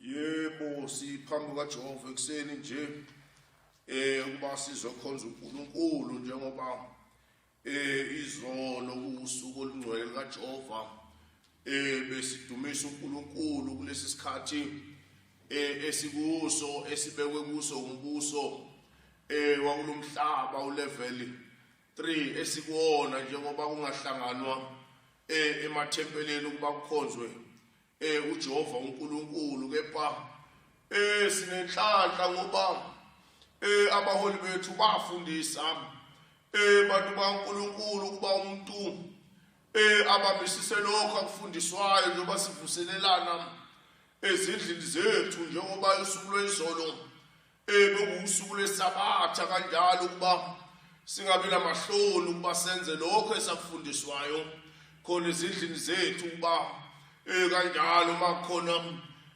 Yebo siphambi kukaJehova ekuseni nje eh ukuba sizokhonza uNkulunkulu njengoba eh izolo kusuku olungcwele kaJehova eh besidumisa uNkulunkulu kulesi sikhathi eh esikuso esibekwe kuso umbuso eh wakulomhlaba ulevel 3 esikuona njengoba kungahlanganwa eh emathempeleni ukuba kukhonzwe Eh uJehova uNkulunkulu kepha eh sinenhlanhla ngoba eh abaholi bethu bafundisa eh bantu baNkulunkulu kuba umuntu eh ababisise lokho akufundiswayo njengoba sivuselelana ezindlini zethu njengoba usuku lwezolo Bekuwusuku lwesabatha kanjalo ukuba singabi namahloni ukuba senze lokho esakufundiswayo khona ezindlini zethu ukuba eh kanjalo makhona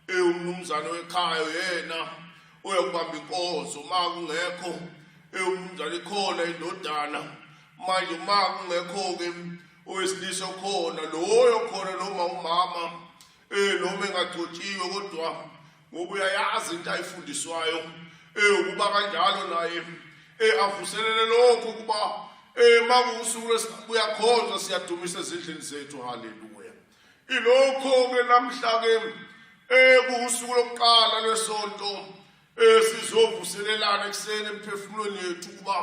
eh umnumzane wekhaya yena uyakubamba inkonzo uma kungekho eh umnumzane ikhona indodana manje uma kungekho ke owesilisa okhona loyo khona noma umama eh noma engagcotshiwe kodwa ngoba uyayazi into ayifundiswayo eyokuba kanjalo naye avuselele lokho ukuba uma kuwusuku lwesibuyakhonza siyadumisa ezindlini zethu haleluya ilokho-ke namhla-ke kuwusuku lokuqala lwesonto sizovuselelana ekuseni emphefumulweni yethu ukuba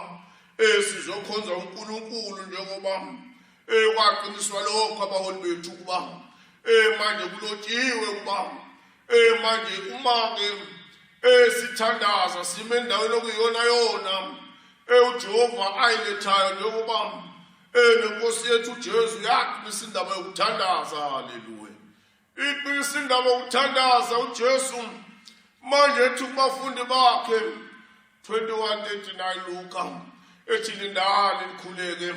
sizokhonza unkulunkulu njengoba kwaqiniswa lokho abaholi bethu ukuba manje kulotshiwe ukuba Eh manje uma ke esithandaza sime endaweni okuyona yona eujehova ayilethayo njengoba enenkosi yethu ujesu yaqinisa indaba yokuthandaza haleluya iqinisa indaba yokuthandaza ujesu manje ethi kubafundi bakhe 21:39 Luka ethi lindani likhuleke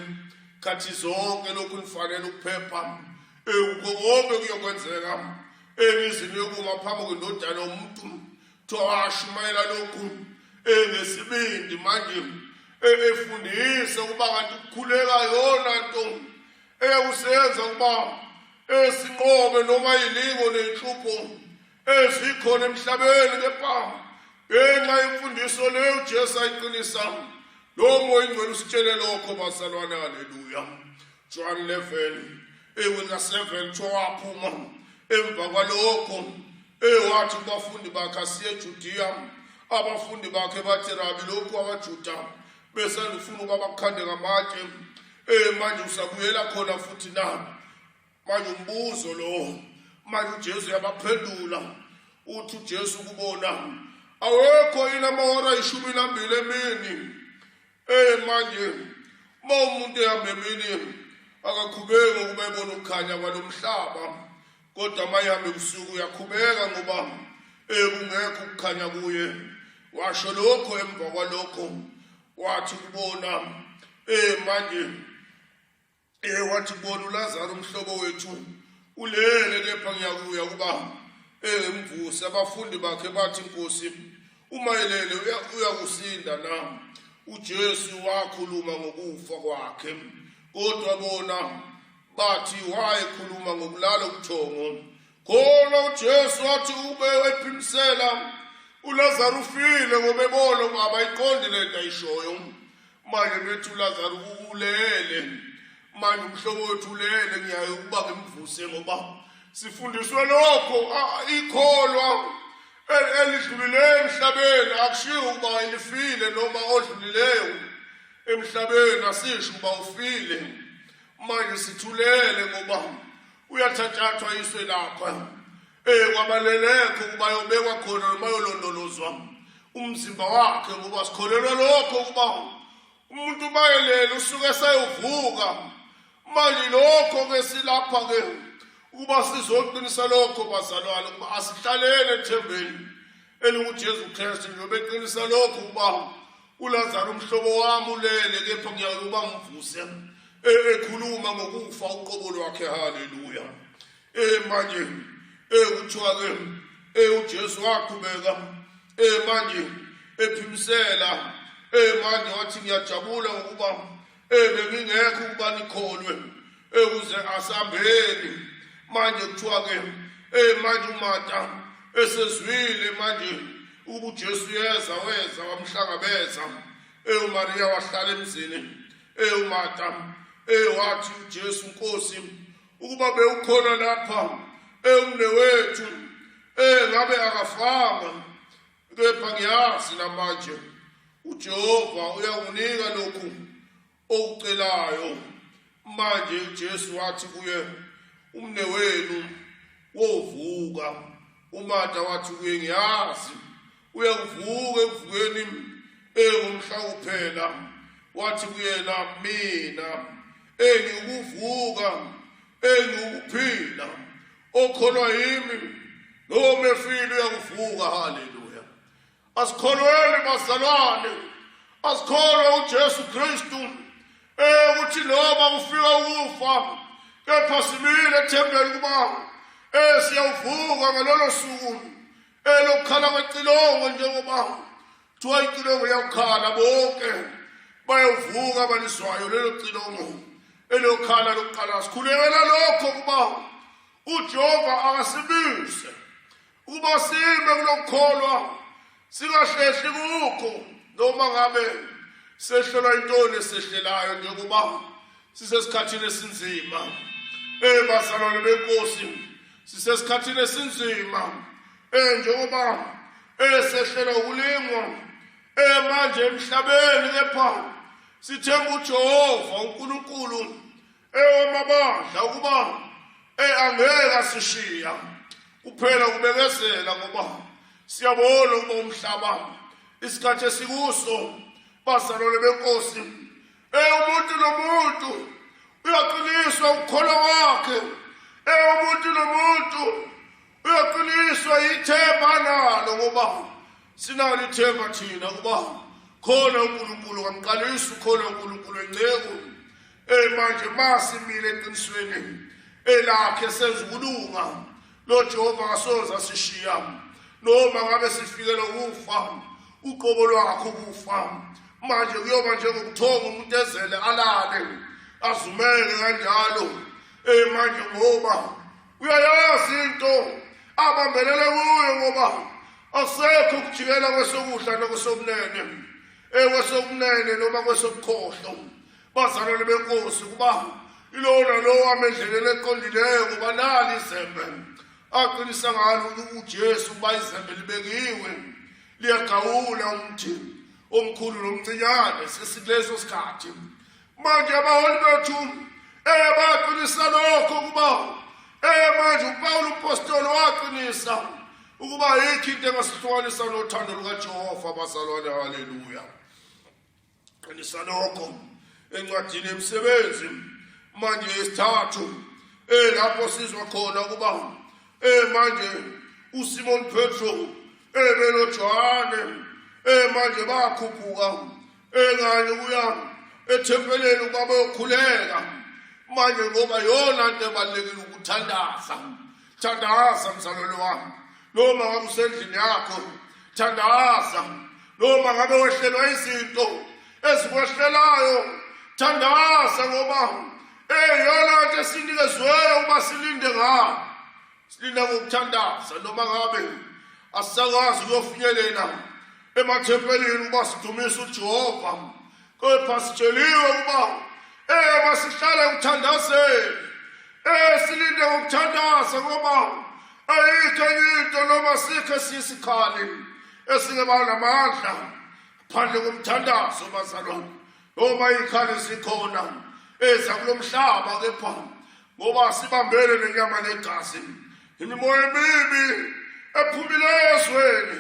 khathi zonke lokhu nifanele ukuphepha ewuko konke kuyokwenzeka emizini yokuma phambi kwendodana yomuntu thowashumayela lokhu engesibindi manje efundise ukuba kanti ukukhuleka yona nto eyakusenza ukuba esinqobe noma yilingo nenhlupho ezikhona emhlabeni kepha ngenxa yemfundiso leyo uJesu ayiqinisa lo moya ingcwele usitshele lokho bazalwane haleluya John 11 ewena 7 tshwaphuma emva kwalokho ewathi kubafundi bakhe asiye eJudiya abafundi bakhe bathi rabi lokhu abaJuda besandifuna ukuba bakukhande ngamatshe eh manje usabuyela khona futhi na manje umbuzo lo manje uJesu uyabaphendula uthi uJesu kubona awekho yini amahora ayishumi nambili emini eh manje uma umuntu ehamba emini akakhubeki ngokuba ebona ukukhanya kwalomhlaba kodwa uma ehamba ebusuku uyakhubeka ngoba eh kungekho ukukhanya kuye washo lokho emva kwalokho wathi kubona eh manje Ehe wathi bona uLazaro umhlobo wethu ulele kepha ngiyakuya ukuba emvuse abafundi bakhe bathi inkosi uma elele uyakusinda na uJesu wakhuluma ngokufa kwakhe kodwa bona bathi wayekhuluma ngokulala ubuthongo khona uJesu wathi ube wephimisela uLazaro ufile ngobebona ukuba abayiqondi lento ayishoyo manje mfethu ulazaro ukulele manje umhlobo wethu ulele ngiyaye ukuba ngimvuse ngoba sifundiswe lokho ikholwa elidlulileyo emhlabeni akushiwo ukuba elifile noma odlulileyo emhlabeni asisho ukuba ufile manje sithulele ngoba uyathathathwa iswe lapha Eh kwabalelekho ukuba yobekwa khona noma yolondolozwa umzimba wakhe ngoba sikholelwa lokho ukuba umuntu bayelele usuke sayovuka manje lokho ke silapha ke ukuba sizoqinisa lokho bazalwane ukuba asihlalele ethembeni elinguJesu Kristu njengoba eqinisa lokho ukuba uLazaro umhlobo wami ulele kepha ngiyawuba ngivuse e-, ekhuluma ngokufa uqobo lwakhe haleluya ee manje ee kuthiwa ke ee ujesu waqhubeka ee manje ephimisela ee manje wathi ngiyajabula ngokuba ee bengingekho ukuba nikholwe ee kuze asambeni manje kuthiwa ke ee manje umata esezwile manje ukuba ujesu yeza weza wamhlangabeza ee umariya wahlala emzini ee umata ee wathi ujesu nkosi ukuba bewukhona lapha ewumnewethu engabe akafanga kepha ngiyazi namanje uJehova uyakunika lokhu okucelayo manje uJesu wathi kuye umnewenu wovuka uMatha wathi kuye ngiyazi uyakuvuka ekuvukeni engumhla kuphela wathi kuyena mina engiwukuvuka engiwukuphila okholwa yimi noma efile uyakuvuka haleluya asikholweni bazalwane asikholwe uJesu Kristu ukuthi noma ufika ukufa kepha simile ethembeni kuba esiyawuvuka ngalolo suku elokukhala kwecilongo njengoba Kuthiwa icilongo liyakukhala bonke bayovuka abaliswayo lelo cilongo eliyokhala lokuqala sikhulekela lokho ukuba ujehova akasibise ukuba sime kulokukholwa singahlehli kukho noma ngabe sehlelwa intoni esehlelayo njengoba sisesikhathini esinzima ey bazalwane benkosi sisesikhathini esinzima Eh njengoba esehlela ukulingwa emanje eh, emhlabeni kepha sithemba uJehova uNkulunkulu ewamabandla eh, ukuba eangeke eh, asishiya kuphela kubekezela ngoba siyabona ukuba umhlaba isikhathi esikuso bazalwane benkosi umuntu nomuntu uyaqiniswa ukukholwa kwakhe umuntu nomuntu uyaqiniswa yithemba nalo ngoba sinalo ithemba thina ukuba khona unkulunkulu kamqalisi ukhona unkulunkulu enceku ey manje masimile eqinisweni elakhe senza ukulunga lo jehova kasoze asishiya noma ngabe sifikelwa ukufa uqobo lwakho ukufa manje kuyoba njengokuthonga umuntu ezele alale azumele kanjalo ey manje ngoba uyayazi into abambelele kuyo ngoba asekho ukujikela kwesokudla nokusokunene ekwesokunene noma kwesobukhohlo bazalwane benkosi kuba ilowo nalowo amendlelele eqondileyo ngoba nali izembe aqinisa ngalo ujesu ukuba izembe libekiwe liyagawula umthi omkhulu nomncinyane sesikuleso sikhathi manje abaholi bethu eye baqinisa lokho ukuba eye manje upawulo upostolo waqinisa ukuba yikho into engasihlukanisa nothando lukajehova bazalwane haleluya qinisa lokho encwadini emsebenzi manje yesithathu eh lapho sizwa khona ukuba eh manje uSimon Petro eh benoJohane eh manje bakhuphuka engane kuya ethempeleni ukuba bayokhuleka manje ngoba yona nto ebalulekile ukuthandaza thandaza mzalwane wami noma ngabe usendlini yakho thandaza noma ngabe wehlelwa izinto ezikwehlelayo thandaza ngoba eyona nto esinikezweyo uba silinde ngayo silinde ngokuthandaza noma ngabe asisakwazi ukuyofinyelela emathempelini uba sidumisa ujehova kepha sitsheliwe ukuba eh masihlale ukuthandazeni eh silinde ukuthandaza ngoba ayikho enye into noma sikhe sisikhali esingeba namandla phandle komthandazo bazalwane noma ikhali sikhona eza kulomhlaba kepha ngoba sibambene nenyama negazi imimoya emibi ephumile ezweni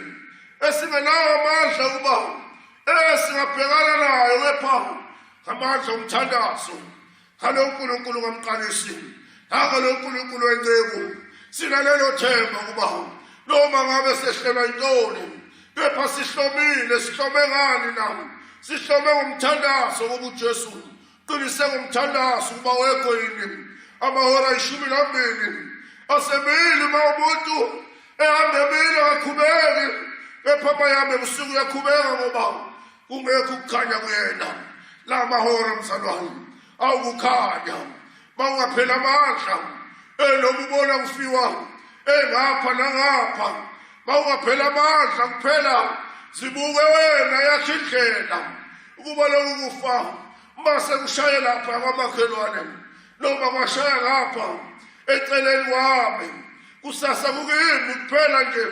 esingenawo amandla ukuba esingabhekana nayo kepha amandla omthandazo ngalo nkulunkulu kamqalisi nangalo nkulunkulu wenceku sinalelo themba ukuba noma ngabe sehlelwa yintoni kepha sihlomile sihlome ngani na sihlome ngomthandazo wobujesu Qiniseka umthandazo ukuba wekho yini amahora ayishumi nambili asemile uma umuntu ehamba emile akakhubeki kepha uma yami ebusuku uyakhubeka ngoba kungekho ukukhanya kuyena la mahora mzalwane awukukhanya Bangaphela amandla elokhu ubona kufiwa engapha nangapha bawungaphela amandla kuphela zibuke wena yakhe indlela ukuba lokhu kufa uma sekushaye lapha kwamakhelwane noma kwashaya ngapha eceleni kwami kusasa kukimi kuphela nje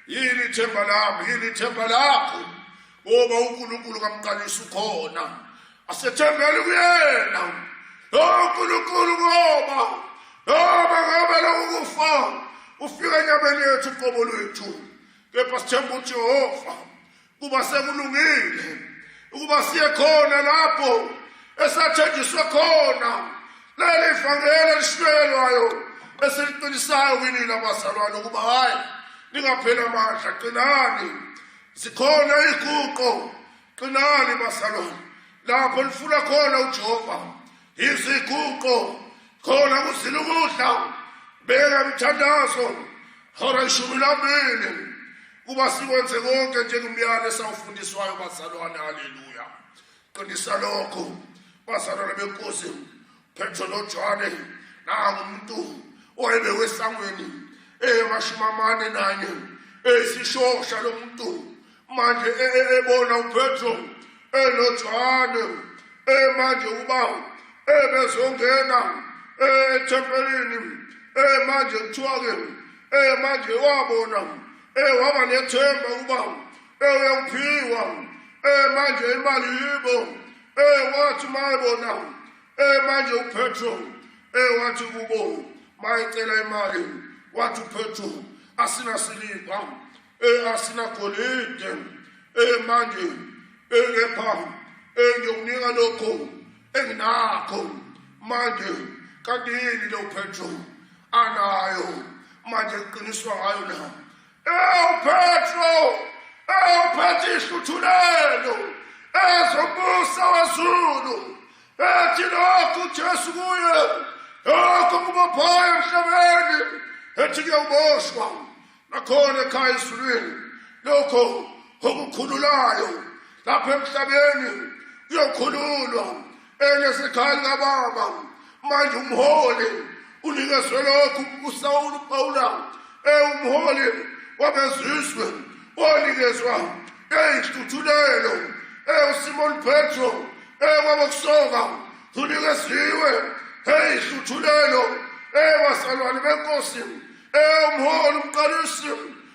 yini ithemba lami yini ithemba lakho ngoba unkulunkulu kamqalisa ukhona asethembele kuyena o nkulunkulu ngoba noma ngabe lokhu kufa ufika enyameni yethu qobo lwethu kepha sithemba ujehova kuba sekulungile ukuba siye khona lapho esathenjiswe khona leli vangeli elishunyelwayo esiliqinisayo kini labazalwane ukuba hhayi ningapheli amandla qinani zikhona iy'guqo qinani bazalwane lapho nifuna khona ujehova iziguqo khona kuzila ukudla beka mthandazo hora ishumi lambili kuba sikwenze konke njengomyalo esawufundiswayo bazalwane haleluya qinisa lokho bazalwane benkosi Petro noJohane nangu umuntu owayebewe oh, esangweni eyamashumi eh, amane nanye esishosha eh, lo muntu manje ebona eh, upetro enojohane manje uba ebezongena ethempelini manje kuthiwa-ke manje wabona waba nethemba uba eyokuphiwa eh manje imali yibo eh wathi mayibona eh manje uPetro eh wathi kubo mayicela imali wathi uPetro asina siliva eh asina golide eh manje eh kepha eh ngiyokunika lokho enginakho manje kanti yini lo Petro anayo manje kuqiniswa ngayo na EwuPetro, ewuphethe ihluthulelo, ezobusa wezulu, ethi lokhu uJesu kuye, lokhu kubophayo emhlabeni, ethi kuyawuboshwa, nakhona ekhaya ezulwini, lokho okukhululayo lapha emhlabeni kuyokhululwa enesikhali kababa manje umholi unikezwe lokhu usawulu pawula ewumholi wabezizwe onikezwa eyinhluthulelo ewusimoni petro ekwabokusoka unikeziwe eyinhluthulelo ewasalwane benkosi ewumholi umqalisi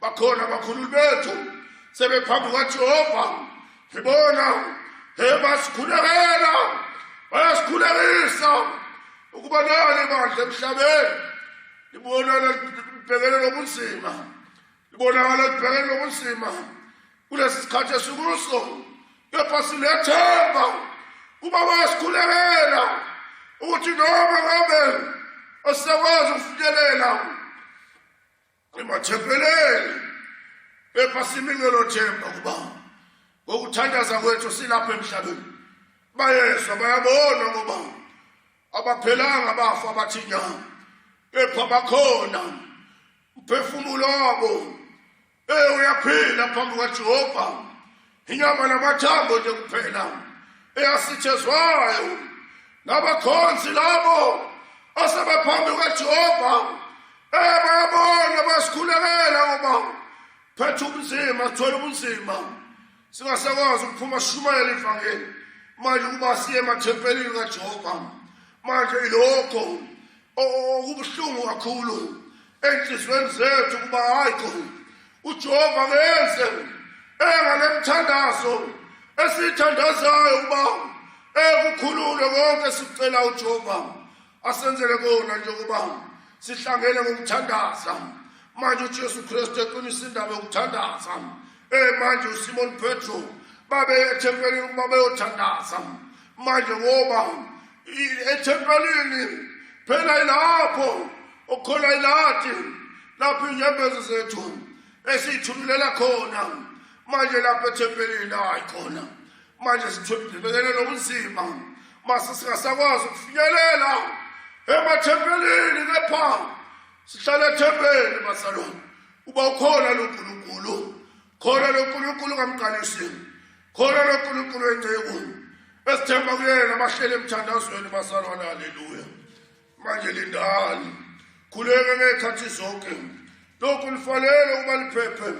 bakhona abakhululi bethu sebephambi kwajehova ngibona ebasikhulekela bayasikhulekisa ukuba nali bandla emhlabeni libonana libhekene nobunzima libonakala libhekene nobunzima kulesi sikhathi esikuso kepha silethemba kuba bayasikhulekela ukuthi noma ngabe osekwazi ukufinyelela emathempeleni kepha simingelo themba kuba ngokuthandaza kwethu silapha emhlabeni bayezwa bayabona ngoba abaphelanga abafa abathi nya kepha bakhona umphefumulo wabo eyi uyaphila phambi kajehova inyama namathambo nje kuphela eyasithezwayo ngabakhonzi labo asebephambi kajehova ebayabona basikhulekela ngoba phetha ubunzima sithole ubunzima singasakwazi ukuphuma sishumayela ivangeli manje ukuba siye emathempelini kajehova manje ilokho okubuhlungu kakhulu enhliziyweni zethu kuba hayikho ujehova kenze engale mthandazo esiyithandazayo ukuba ekukhulule konke sicela ujehova asenzele kona njengoba sihlangene ngokuthandaza manje ujesu kristu eqinisa indaba yokuthandaza um manje usimoni petro babeye ethempelini ukuba beyothandaza manje ngoba ethempelini phela ilapho okhona ilathi lapho inyembezi zethu esiyithumelela khona manje lapho ethempelini hayi khona manje sithembekele lobunzima mase singasakwazi ukufinyelela emathempelini kepha sihlale ethempelini bazalwane uba ukhona lo nkulunkulu khona lonkulunkulu kamqalisini khona lonkulunkulu wenceku esithemba kuyena bahlele emthandazweni basalwana haleluya manje lindani khuleke ngey'khathi zonke lokhu lifanele ukuba liphephe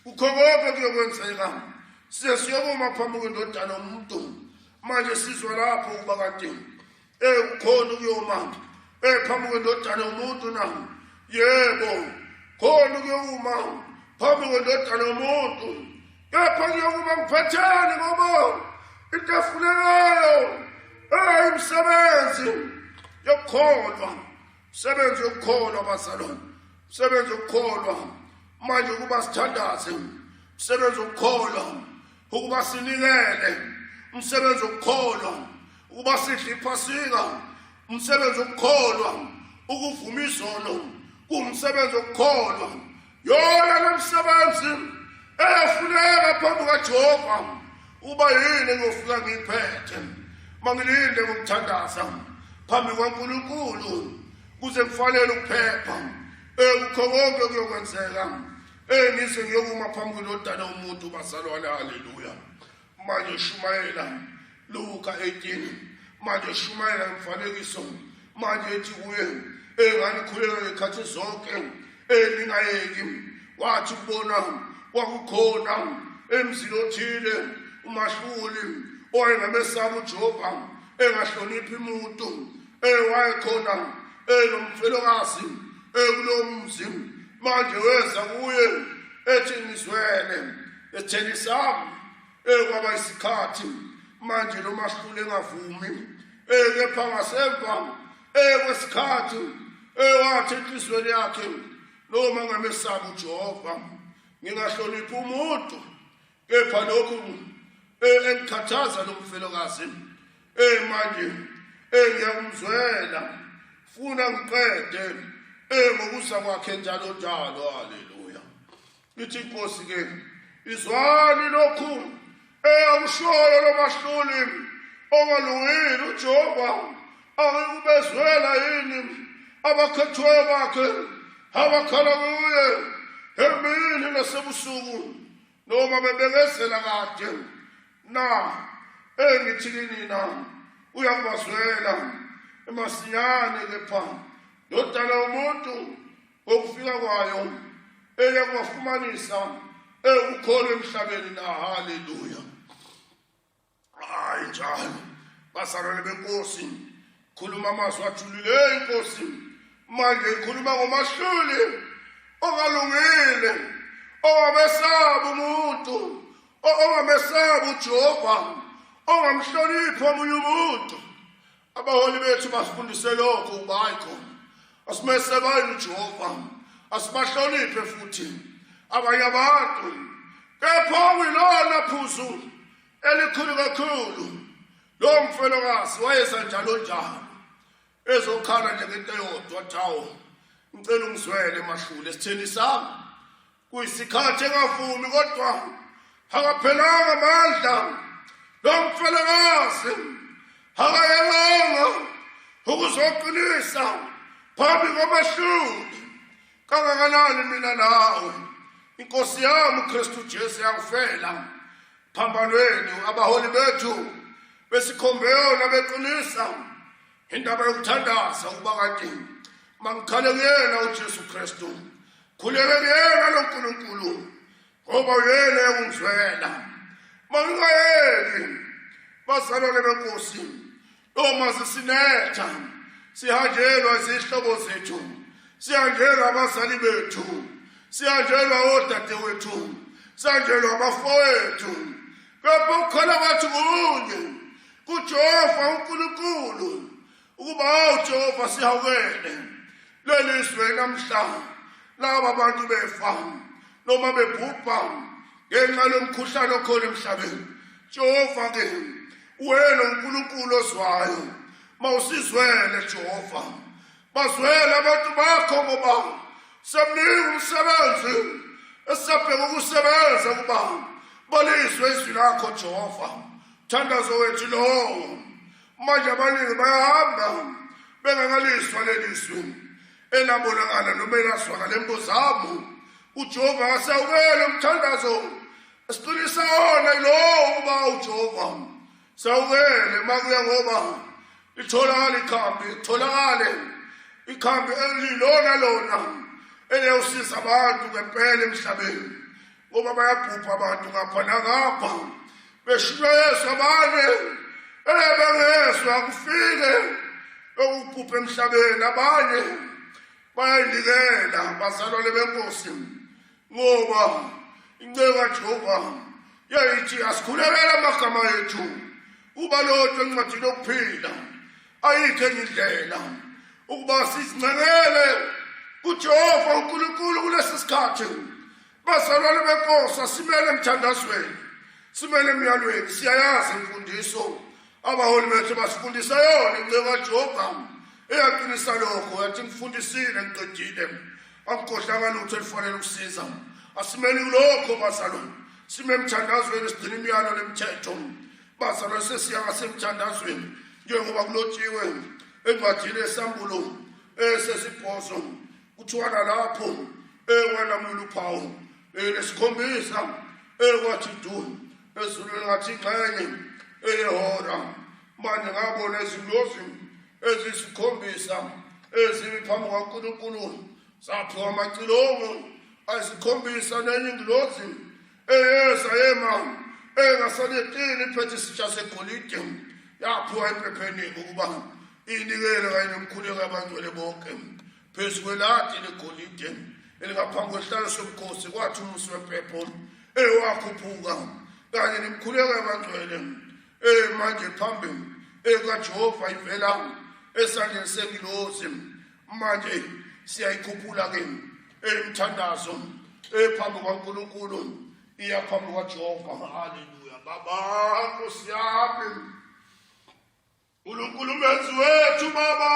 kukho konke kuyokwenzeka size siyokuma phambi kwendodana umuntu manje sizwa lapho ukuba kade ekukhona ukuyoma ephambi kwendodana yomuntu na yebo khona ukuyoma phambi kwendodana yomuntu kepha kuyokuba ngiphatheni ngoba into efunekayo eyimsebenzi yokukholwa msebenzi yokukholwa bazalwane msebenzi wokukholwa manje ukuba sithandaze msebenzi wokukholwa ukuba sinikele umsebenzi wokukholwa ukuba sidle iphasika umsebenzi wokukholwa ukuvuma izono kuwumsebenzi wokukholwa yona lomsebenzi eyafuneka phambi kajehova uba yini engiyofika ngiyiphethe uma ngilinde ngokuthandaza phambi kwankulunkulu kuze kufanele ukuphepha ekukho konke kuyokwenzeka Eh ngize ngiyokuma phambi kwendodana umuntu bazalwane haleluya. Manje shumayela Luka 18 manje shumayela imfanekiso manje ethi kuye engani khuleka ngekhathi zonke eningayeki wathi kubona kwakukhona emzini othile umahluli owayengamesaba uJehova engahloniphi umuntu ewayekhona enomfelokazi ekulowo mzi manje weza kuye ethi ngizwele etheni sami ekwaba isikhathi manje lo mahlule engavumi ekepha ngasemva ekwesikhathi ewathi enhliziyweni yakhe noma ngamesabi ujehova ngingahloniphi umuntu kepha lokhu eh, engikhathaza lo mfelokazi eh, manje eh, ngiyakumzwela funa ngiqede ngokuza kwakhe njalo njalo haleluya ithi inkosi ke izwani lokhu eyakushoyo lomahluli ongalungile ujehova akekubezwela yini abakhethwayo bakhe abakhala kuye emini nasebusuku noma bebekezela kade na engithini nina uyakubazwela emasinyane kepha ndodana umuntu ngokufika kwayo eye kubafumanisa ewukholo emhlabeni na haleluya hayi njalo basarele benkosi khuluma amazwi ajulileyo inkosi manje ikhuluma ngomahluli ongalungile ongamesaba umuntu ongamesaba ujehova ongamhloniphi omunye umuntu abaholi bethu basifundise lokho ukuba hayi khona asimesebayini ujehova asibahloniphe futhi abanye abantu kepha wilona phuzu elikhulu kakhulu lowo mfelokazi wayeza njalo njalo ezokhala njengento eyodwa thawo ngicela ungizwele mahlule esitheni sami kuyisikhathi engavumi kodwa akaphelanga amandla lo mfelakazi akayelanga ukuzoqinisa phambi kwabahluli kangakanani mina nawe inkosi yami ukristu jesu yakufela phambanweni abaholi bethu besikhombeyona beqinisa indaba yokuthandaza ukuba kade mangikhale kuyena ujesu kristu khulekeni yena lo nkulunkulu ngoba uyena ewumzwela mawungayeki bazalwane benkosi uma sisinetha sihanjelwa izihlobo zethu sihanjelwa abazali bethu sihanjelwa odadewethu sihanjelwa abafowethu kepha ukukhala kwathi kunye kujehova unkulunkulu ukuba hawu jehova sihawukele leli zwe namhla laba bantu befa noma bebhubha ngenxa lomkhuhlane okhona emhlabeni jehova ke wena unkulunkulu ozwayo mawusizwele jehova bazwele abantu bakho ngoba semningi umsebenzi esabheka ukusebenza ukuba balizwe izwi lakho jehova thandazo wethu lowo manje abaningi bayahamba bengakaliswa leli zwi elabonakala noma elazwakala embuzamo ujehova akasawukele umthandazo siqinisa wona yilowo ukuba ujehova sawukele makuya ngoba itholakale ikhambi itholakale ikhambi elilona lona eliyawusiza abantu ngempela emhlabeni ngoba bayabhubha abantu ngapha nangapha beshilo yesu abanye elebengezwa kufike lokuphupha emhlabeni abanye bayayinikela bazalwane benkosi ngoba inceku kajehova yayithi asikhulekele amagama ethu uba lodwa encwadini yokuphila ayikho enye indlela ukuba sizincekele kujehova unkulunkulu kulesi sikhathi Bazalwane benkosi asimele emthandazweni, simele emyalweni, siyayazi imfundiso abaholi bethu basifundisa yona incebo kaJehova eyaqinisa lokho yathi ngifundisile ngiqedile akukhohlanga lutho elifanele ukusiza asimele kulokho bazalwane sime emthandazweni sigcina imiyalo nemithetho bazalwane sesiya ngasemthandazweni njengoba kulotshiwe encwadini esambulo esesibhozo kuthiwa nalapho ekwalamula uphawu elesikhombisa ekwathi du ezulu lingathi xenye eyehora manje ngabona izingozi ezisikhombisa ezimi phambi kwankulunkulu zaphiwa amacilongo ayisikhombisa nenye ingilozi eyeza yema engasaletini iphethe isitsha segolide yaphiwa emphepheniko ukuba inikele kanye nomkhuleko abangcwele bonke phezu kweladi legolide elingaphambi kwesihlalo sobukhosi kwathi umusi wempepho ewakhuphuka kanye nemkhuleko yabangcwele emanje phambili ekajehova ivela esandleni sengilozi manje siyayikhuphula ke emthandazo ephambi kwaNkulunkulu iya phambi kwaJehova haleluya baba nkosi yami uNkulunkulu menzi wethu baba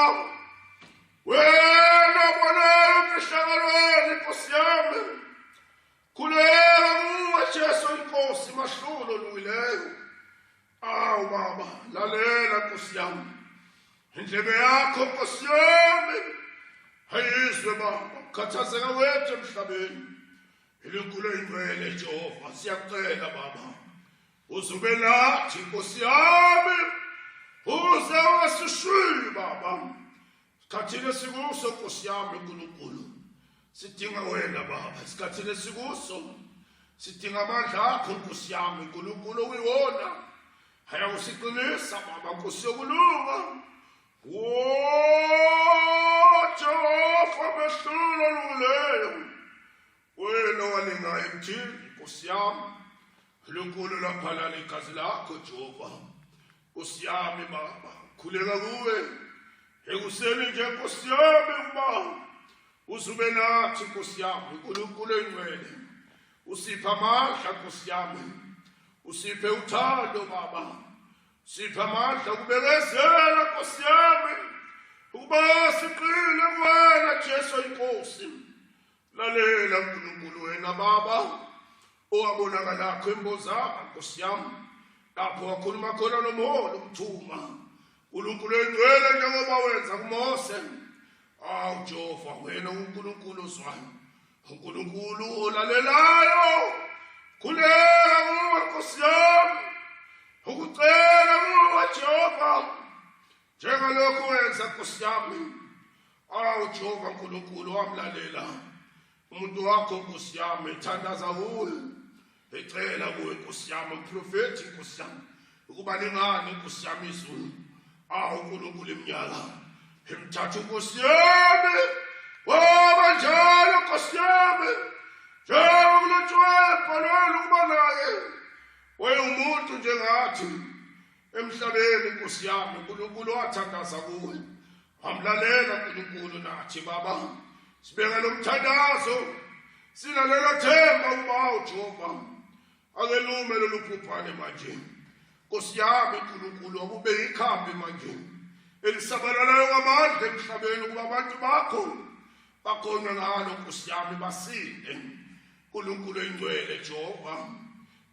wena bona ukishakalweni nkosi yami khuleka kuwe Jesu inkosi mahlulo luyileyo awu baba lalela nkosi yami indlebe yakho nkosi yami ayizwe baba ukhathazeka wethu emhlabeni iligulo ingwele jehova siyakucela baba uzube lathi nkosi yami uze ungasishili baba Sikhathini esikuso Nkosi yami uNkulunkulu sidinga wena baba esikhathini esikuso sidinga amandla akho Nkosi yami uNkulunkulu oyiwona ayakusiqinisa baba Nkosi yokulunga wo Jehova mehlula lungileyo Wena walinga emthini nkosi yami Nkulunkulu laphalala igazi lakho Jehova nkosi yami baba khuleka kuwe ekuseni nje nkosi yami uba uzube nathi nkosi yami Nkulunkulu engcwele usipha amandla nkosi yami usiphe uthando baba sipha amandla kubekezela nkosi yami ukuba siqine kuwena Jesu inkosi lalela nkulunkulu wena baba owabonakalakho embozanga nkosi yam lapho wakhuluma khona nomholi umthuma nkulunkulu endwele njengoba wenza kumose awu jehova wena unkulunkulu ozwayo unkulunkulu olalelayo khuleka kuwe nkosi yam ukucela kuwe jehova njengalokhu wenza nkosi yami awu jehova nkulunkulu wamlalela umuntu wakho nkosi yami ethandaza kuwe ecela kuwe nkosi yami uprofethi nkosi yami ukuba lingani nkosi yami izulu awu nkulunkulu iminyaka emthatha nkosi yami waba njalo nkosi yami njengoba kulotshwayo ebhalweni ukuba naye wayewumuntu njengathi emhlabeni nkosi yami uNkulunkulu wathandaza kuwe wamlalela uNkulunkulu nathi baba sibeka lomthandazo silalela themba uba uJehova akelume lolu phuphaane manje nkosi yami uNkulunkulu akube yikhambi manje elisabalalayo ngamandla emhlabeni ukuba abantu bakho bakhona ngalo nkosi yami basinde uNkulunkulu oyingcwele Jehova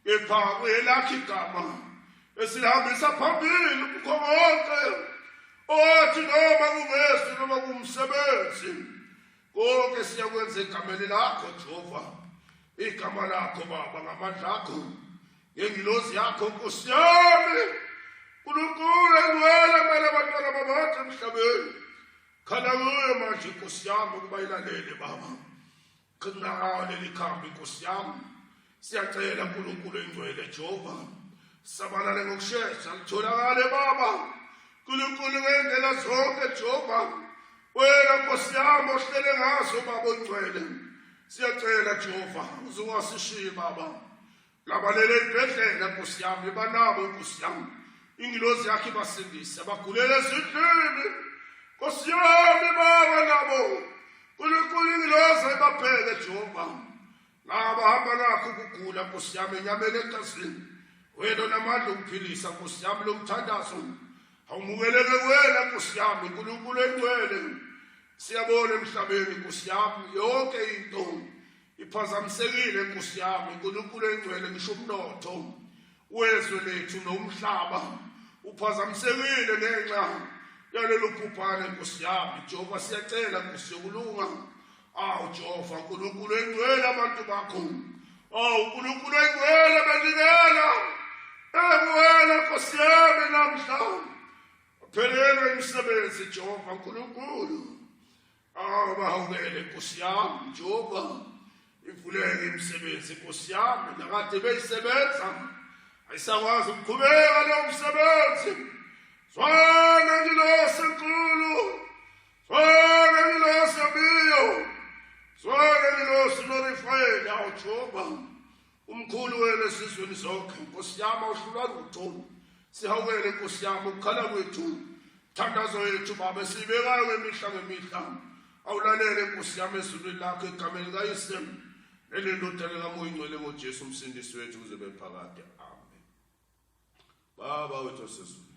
kepha kuyelakhe igama esilihambisa phambili kukho konke owathi noma kungesu noma kumsebenzi konke siyakwenza egameni lakho jehova igama lakho baba ngamandla akho ngengilozi yakho nkosi yami unkulunkulu engcwele mele abantwana babathi emhlabeni khala kuyo manje nkosi yami ukuba ilalele baba Qina leli khambi Nkosi yami. Siyacela uNkulunkulu engcwele Jehova. Sabalale ngokushesha litholakale baba. Nkulunkulu ngendlela zonke Jehova. Wena Nkosi yami ohlele ngazo baba ongcwele. Siyacela Jehova uzowasishiya baba. labalele ezibhedlela nkosi yami banabo nkosi yami ingilozi yakhe ibasindise bagulele ezindlini nkosi yami baba nabo nkulunkulu ingilozi ibabheke jehova laba hamba nakho ukugula nkosi yami enyameni egazini wena namandla okuphilisa nkosi yami lo mthandazo awumukeleke wena nkosi yami nkulunkulu engcwele siyabona emhlabeni nkosi yami yonke into Iphazamisekile Nkosi yami uNkulunkulu engcwele ngisho umnotho wezwe lethu nomhlaba uphazamisekile ngenxa yalolu bhubhane Nkosi yami Jehova siyacela Nkosi yokulunga awu Jehova uNkulunkulu engcwele abantu bakho awu uNkulunkulu engcwele benikela engcwele Nkosi yami namhla phelelwe imisebenzi Jehova uNkulunkulu Abahawukele nkosi yami njengoba ivuleke imisebenzi nkosi yami nakade beyisebenza ayisakwazi ukuqhubeka lo msebenzi zwana ngilosi nkulu zwana ngilosi biyo zwana ngilosi lorifayela ujoba umkhulu wenu esizweni zonke nkosi yami awuhlulwa lutho sihawukele nkosi yami ukukhala kwethu thandazo yethu baba esiyibekayo ngemihla ngemihla awulalele nkosi yami ezulwini lakho egameni likayise nelendodana kamoya ingcwele ngojesu umsindisi wethu kuze bephakade Baba wethu osezulu,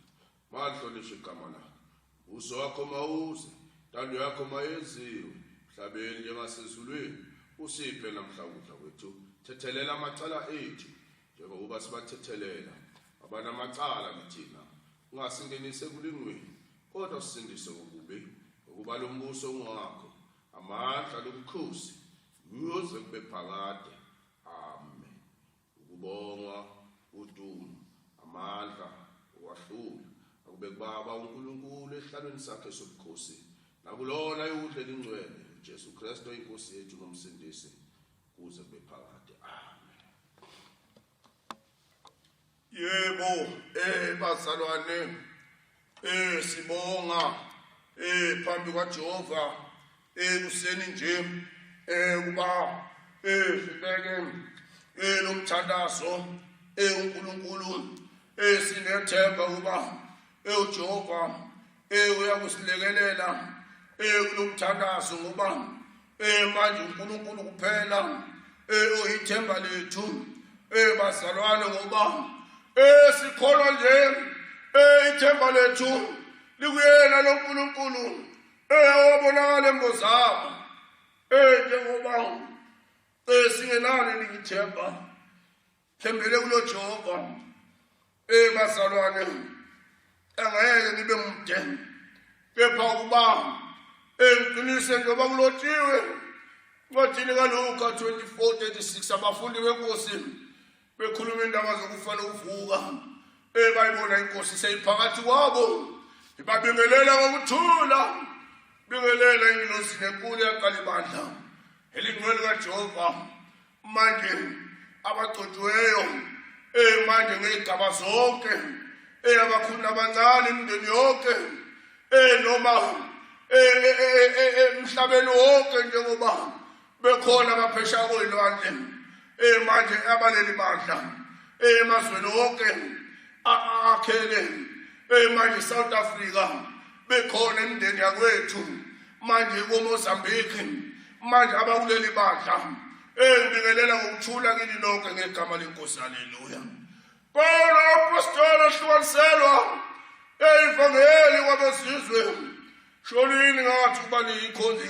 mahlonishwe igama lakho. Uso wakho mawuze, intando yakho mayenziwe emhlabeni njengasezulwini. Usiphe namhla ukudla kwethu. Thethelela amacala ethu njengokuba sibathethelela abanamacala kithina. Ungasingenise kulingweni, kodwa usindise kokubi, ngokuba lo mbuso ungowakho, amandla nobukhosi kuze kube phakade. Ukubongwa, udumo, amandla, ukwahlula, akube kuBaba uNkulunkulu esihlalweni sakhe sobukhosi, nakulona ayokudla elingcwele, uJesu Kristu inkosi yethu nomsindisi kuze kube phakade. Amen. Yebo, eh bazalwane, Eh sibonga eh phambi kwaJehova eh kuseni nje eh kuba eh sibeke eh lomthandazo eh uNkulunkulu eh sinethemba kuba eh uJehova eh uyakusilekelela eh kulomthandazo ngoba Eh manje uNkulunkulu kuphela eh oyithemba lethu eh bazalwane ngoba eh sikholwa nje eh ithemba lethu likuyena loNkulunkulu eh owabonakala embozabo eh njengoba eh singenalo lithemba thembele kulojehova ey bazalwane angeke nibe mude kepha ukuba engiqinise njengoba kulotshiwe ncwadini kaluka 2436 abafundi benkosi bekhuluma indaba zokufa nokuvuka ey bayibona inkosi seyiphakathi kwabo ibabingelela ngokuthula bingelela ingilosi nenkulu yaqala ibandla elingcwele kajehova manje abagcotshiweyo um manje ngey'gaba zonke um abakhulu nabancane imindeni yonke um noma emhlabeni wonke njengoba bekhona abaphesha koyilwandle um manje abaleli bandla emazweni wonke akhele um manje south africa bekhona imindeni yakwethu manje komozambique manje abakuleli bandla engibingelela ngokuthula kini lonke ngegama lenkosi haleluya pawula apostoli ahlukaniselwa eyivangeli kwabezizwe sholini ngathi ukuba niyikhonzi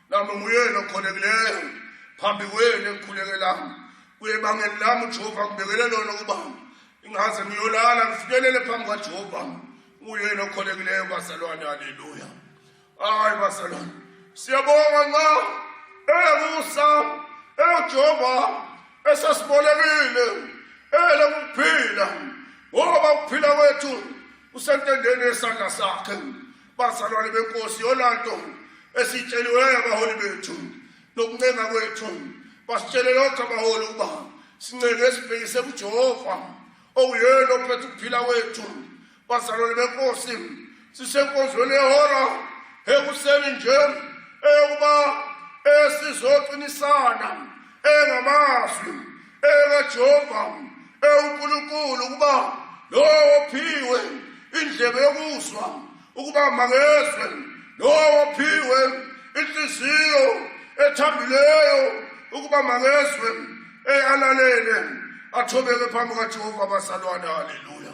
nami nguyena okholekileyo phambi kwenu engikhuleke lami kuye bangeli lami ujehova ngibekele lona ukuba ingaze ngiyolala ngifikelele phambi kajehova nguyena okholekileyo bazalwane haleluya hayi bazalwane siyabonga nxa elokusa elojehova esasibolekile elokuphila ngoba ukuphila kwethu usentendeni yesandla sakhe Bazalwane benkosi yolanto esitsheliwe abaholi bethu nokuncenga kwethu basitshele lokho abaholi ukuba sincenge esibhekise kuJehova owuyena ophethe ukuphila kwethu bazalwane benkosi sisenkonzweni yehora ekuseni nje eyokuba esizoqinisana engamazwi EkaJehova, ewuNkulunkulu, ukuba lowo ophiwe indlebe yokuzwa, ukuba makezwe, lowo ophiwe inhliziyo ethambileyo, ukuba makezwe, eyalalele, athobeke phambi kaJehova, abazalwane. Haleluya!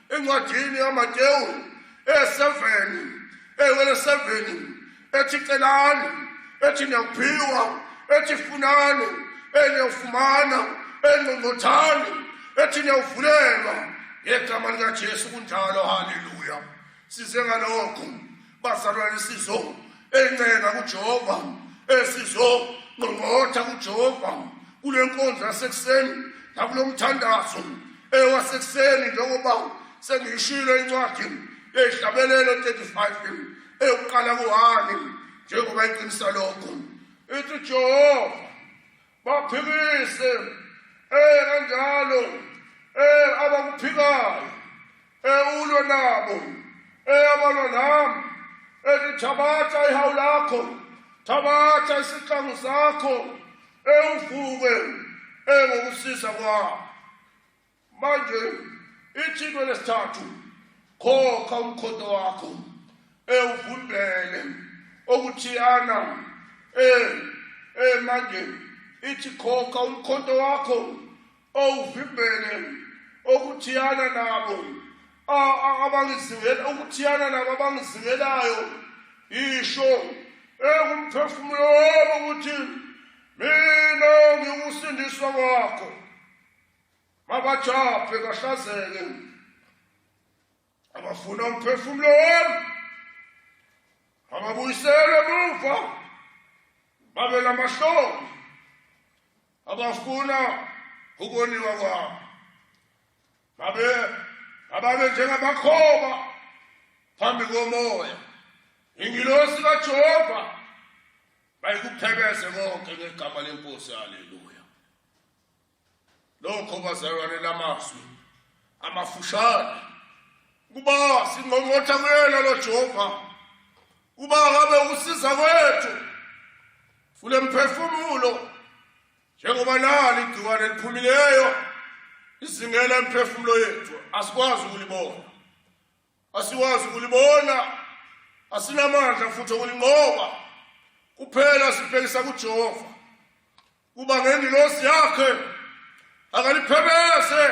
encwadini yamatewu eyeseveni eyiwele seveni ethi celani ethi niyakuphiwa ethi funani eniyofumana engqongqothani ethi niyawuvulelwa ngegama likajesu kunjalo haleluya size ngalokho bazalwane sizo encela kuJehova esizo nqongqotha kuJehova kule nkonzo yasekuseni nakulo mthandazo ewasekuseni njengoba sengiyishilo incwadi yehlabelelo 35 eyokuqala kuhani njengoba iqinisa lokho ithi Jehova baphikise eh kanjalo eh abakuphikayo ewulwe eh, nabo eyabalwa eh, nami ethi eh, thabatha ihawu lakho thabatha isihlangu sakho ewuvuke engokusisa kwakho manje ithintwe lesithathu khokha umkhondo wakho ewuvimbele okuthiyana eh eh manje ithi khokha umkhondo wakho owuvimbele okuthiyana nabo abangizingela okuthiyana nabo abangizingelayo isho ekumphefumulo wami ukuthi mina ngiwusindiswa kwakho babajabhe kahlazeke abafuna umphefumulo wami ababuyiselwe emuva babe namahloni abafuna ukoniwa kwami babe ababe njengamakhoba phambi komoya ingilosi kajehova bayikuphekeze konke ngegama lenkosi haleluya lokho bazalwane lamazwi amafushane kuba singqongqotha kuyena lo Jehova kuba ngabe usiza kwethu fule mphefumulo njengoba nali igciwane liphumileyo izingela emphefumulo yethu asikwazi ukulibona asikwazi ukulibona asinamandla futhi okulinqoba kuphela sibhekisa kuJehova kuba ngengilosi yakhe akaliphebese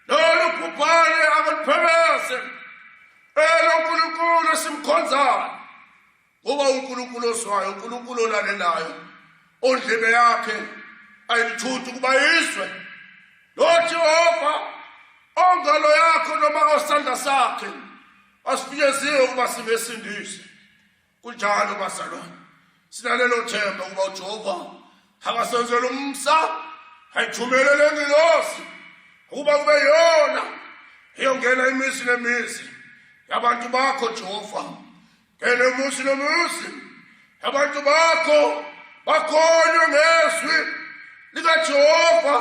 lolu bhubhane akaliphebese elo nkulunkulu esimkhonzayo ngoba unkulunkulu ozwayo unkulunkulu olalelayo ondlebe yakhe ayilithuthi ukuba izwe lojehova ongalo yakho noma osandla sakhe asifinyeziwe ukuba singesindise kunjalo bazalwane sinalelo themba ukuba ujehova akasenzela umsa ayithumele le ngilosi ukuba kube yona eyongena imizi nemizi yabantu bakho jehova ngene umuzi nomuzi abantu bakho bakholwe ngezwi likajehova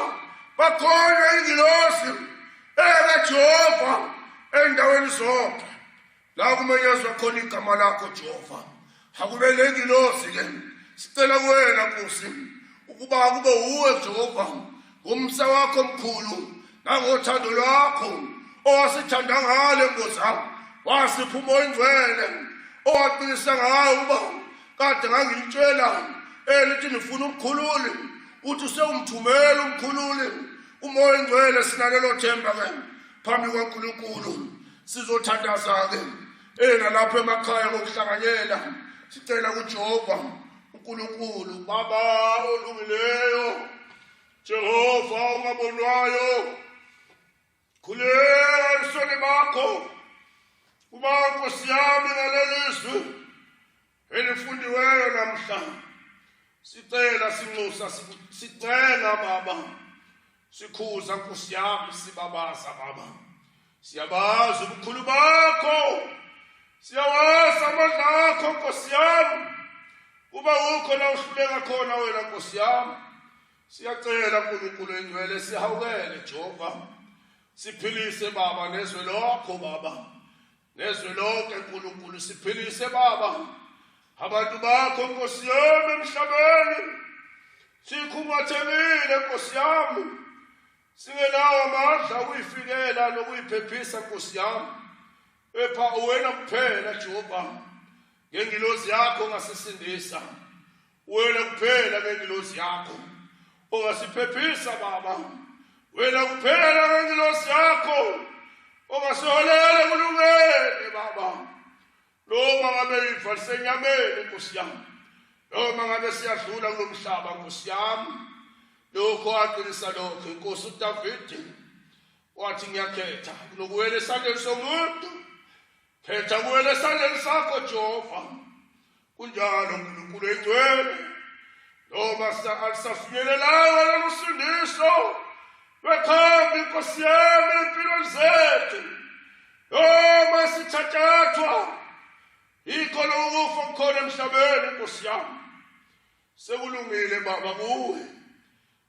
bakholwe ingilosi ekajehova endaweni zonke la kumenyezwa khona igama lakho jehova akube le ngilosi ke sicela kuwena nkosi ukuba kube wuwe jehova ngomsa wakho omkhulu nangothando lwakho owasithanda ngale nkosi wasipha umoya ingcwele owaqinisa ngayo uba kade ngangilitshela elithi nifuna umkhululi uthi sewumthumela umkhululi umoya engcwele sinalelo themba ke phambi kwaNkulunkulu sizothandaza-ke ena lapho emakhaya ngokuhlanganyela sicela kujehova unkulunkulu baba olungileyo jehova ungabonwayo khuleka ebusweni bakho uba nkosi yami ngalelizwi elifundiweyo namhlanje sicela sinxusa sicenga baba sikhuza nkosi yami sibabaza baba siyabazi ubukhulu bakho siyawazi amandla akho nkosi yami kuba ukho la uhluleka khona wena nkosi yami siyacela nkulunkulu engcwele sihawukele jehova siphilise baba nezwe lokho baba nezwe lonke nkulunkulu siphilise baba abantu bakho nkosi yami emhlabeni sikhungathekile nkosi yami singenawo amandla ukuyifikela nokuyiphephisa nkosi yami epha uwena kuphela jehova ngengilozi yakho ngasisindisa wena kuphela ngengilosi yakho ongasiphephisa baba wena kuphela ngengilosi yakho ongasiholela kulungene baba noma ngabe ifa lisenyameni nkosi yami noma ngabe siyadlula kulo mhlaba nkosi yami lokho aqinisa lokho inkosi udavidi wathi ngiyakhetha kunokuwela esandleni somuntu khetha kuwela esandleni sakho jehova kunjalo uNkulunkulu engcwele noma alisafinyelelanga lolusindiso lwekhambi inkosi yami empilweni zethu noma sithathathwa yikho lokufa kukhona emhlabeni inkosi yami sekulungile baba kuwe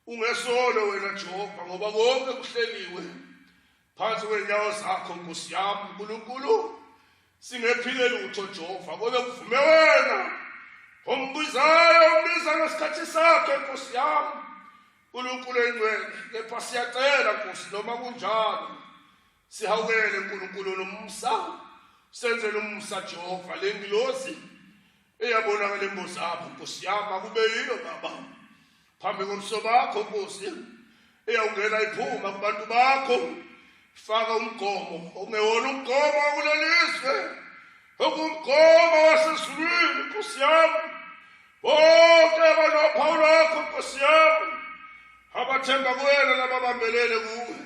Ungesolo wena Jehova ngoba konke kuhleliwe phansi kwenyawo zakho Nkosi yami uNkulunkulu singephile lutho Jehova kodwa kuvume wena ombizayo umbiza ngesikhathi sakhe Nkosi yami uNkulunkulu engcwele kepha siyacela Nkosi noma kunjalo sihawukele uNkulunkulu nomsa senzele umsa Jehova lengilosi Eyabona ngale mbuzi yakho Nkosi yami akube yiyo baba. Phambi komso bakho Nkosi. Eyawungena iphuma kubantu bakho. Faka umgomo ongewona umgomo kulelizwe. Okumgomo wasezulwini Nkosi yami. Bonke banophawu lwakho Nkosi yami. Abathemba kuwena nababambelele kuwe.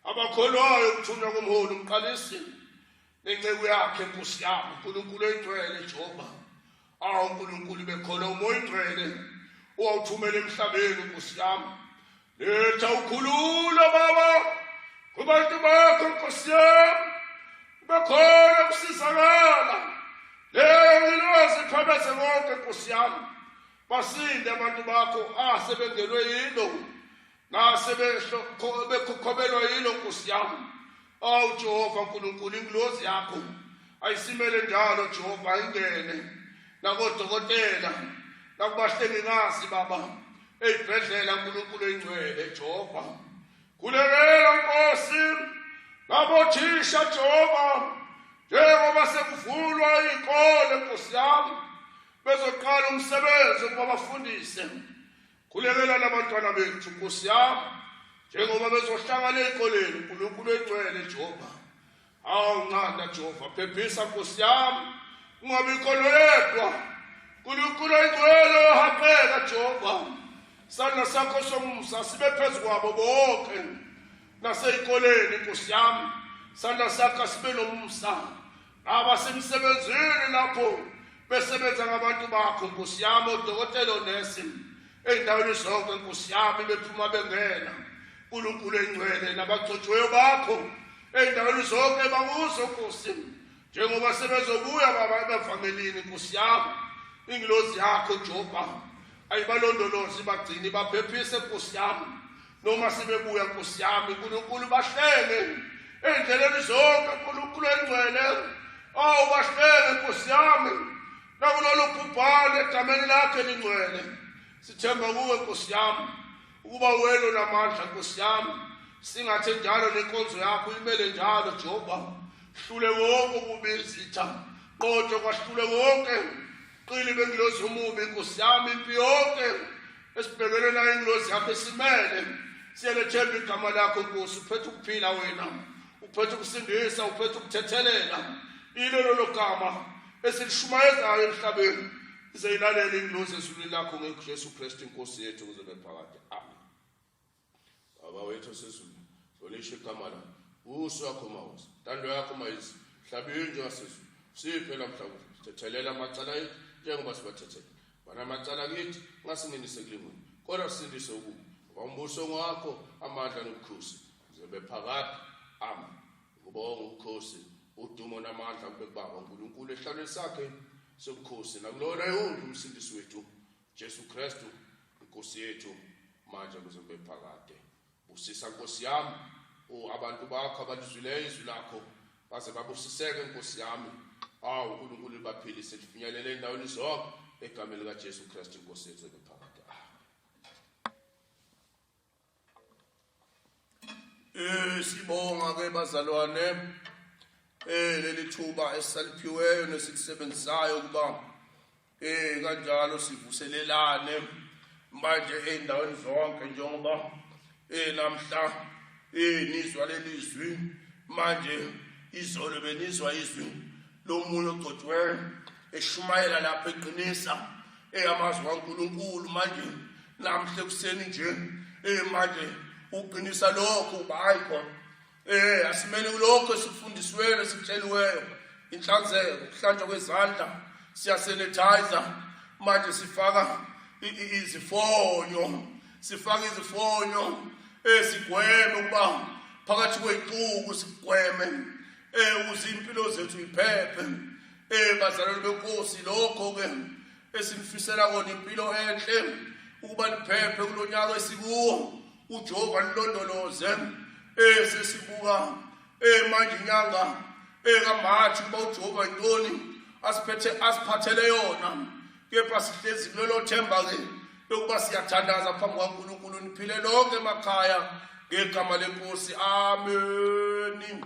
Abakholwayo ukuthunywa komholi umqalisi. nenceku yakhe nkosi yami unkulunkulu oyingcwele jehova awu unkulunkulu bekhona uma oyingcwele owawuthumela emhlabeni nkosi yami letha ukhululo baba kubantu bakho nkosi yami ubekhona ukusizakala lengilozi phebeze konke nkosi yami basinde abantu bakho asebengelwe yilo ngase bekhokhomelwa yilo nkosi yami awu jehova nkulunkulu ingilozi yakho ayisimele njalo jehova ayingene nakodokotela nakubahlengikazi baba eyibhedlela nkulunkulu eyingcwele jehova kulekelela nkosi ngabothisha jehova njengoba sekuvulwa iy'kole nkosi yami bezoqala umsebenzi ukuba bafundise Khulekela labantwana bethu Nkosi yami njengoba bezohlangana ezikoleni uNkulunkulu egcwele Jehova. Awu nqanda Jehova phephisa Nkosi yami ungabi khona yedwa. Unkulunkulu oyigcwele ohaqeka Jehova. Sandla sakho somusa sibe phezu kwabo bonke nasezikoleni Nkosi yami. Sandla sakho sibe nomusa. abasemsebenzini lapho besebenza ngabantu bakho nkosi yami odokotela onesi ey'ndaweni zonke nkosi yami bephuma bengena nkulunkulu engcwele nabagcotshweyo bakho ey'ndaweni zonke bakuzo nkosi njengoba sebezobuya baba ebavangelini nkosi yami ingilozi yakho jehova ayibalondolozi bagcini baphephise nkosi yami noma sebebuya nkosi yami uNkulunkulu bahlele endleleni zonke uNkulunkulu engcwele awu oh, bahlele nkosi yami nakulolu bhubhane egameni lakhe lingcwele sithemba kuwe nkosi yami ukuba wena unamandla nkosi yami singathe njalo nenkonzo yakho imele njalo Jehova hlule wonke ukubizitha qotho kwahlule wonke Qili bengilozi umubi Nkosi yami impi yonke esibhekene nayo ingilozi yakho esimele siyelethemba igama lakho Nkosi uphethe ukuphila wena uphethe ukusindisa uphethe ukuthethelela ilo lolo gama esilishumayezayo emhlabeni ize ilalele ingilozi ezulwini lakho ngeJesu Kristu inkosi yethu kuze bephakade amen Baba wethu osezulu, hlonishwa igama lakho. Uso wakho mawuze. Intando yakho mayizwe. Mhlabeni njengasezulu. Siphe lamhlawumbe. Sithethelela amacala ethu njengoba sibathethela. Bana amacala kithi ngasingenise kulingweni. Kodwa sindise ukuba ngoba umbuso ngwakho amandla nobukhosi. Zebe phakade. Amen. Ukubonga ubukhosi, udumo namandla kube kubaba uNkulunkulu ehlalweni sakhe sobukhosi nakulona yonke umsindisi wethu Jesu Kristu inkosi yethu manje kuze kube phakade busisa nkosi yami o abantu bakho abalizwileyo izwi lakho baze babusiseke nkosi yami awu uNkulunkulu libaphilise lifinyelele endaweni zonke egameni likaJesu Kristu inkosi yethu ebephakade Eh sibonga ke bazalwane eh leli thuba esaliphiweyo nesikusebenzisayo kuba eh kanjalo sivuselelane manje endaweni zonke njengoba eh namhla eh nizwa lelizwi manje izolo benizwa izwi lomunye ogcotshwe eshumayela lapha eqinisa Ey amazwi kaNkulunkulu manje namhle kuseni nje ey manje uqinisa lokho uba hayi khona eh asimele kulokho esifundisiweyo esitsheliweyo inhlanzeko kuhlanjwa kwezandla siyasanitize manje sifaka izifonyo sifaka izifonyo esigweme eh, ukuba phakathi kweyixuku sigweme eh uzimpilo zethu iphephe Eh bazalwane benkosi lokho ke esinifisela kona impilo enhle ukuba niphephe kulonyaka esikuwo uJehova nilondoloze eh sesibuka eh manje inyanga eh kaMarch uba uJehova intoni asiphethe asiphathele yona kepha sihlezi kulelo themba ke lokuba siyathandaza phambi kwaNkulunkulu niphile lonke emakhaya ngegama lenkosi amen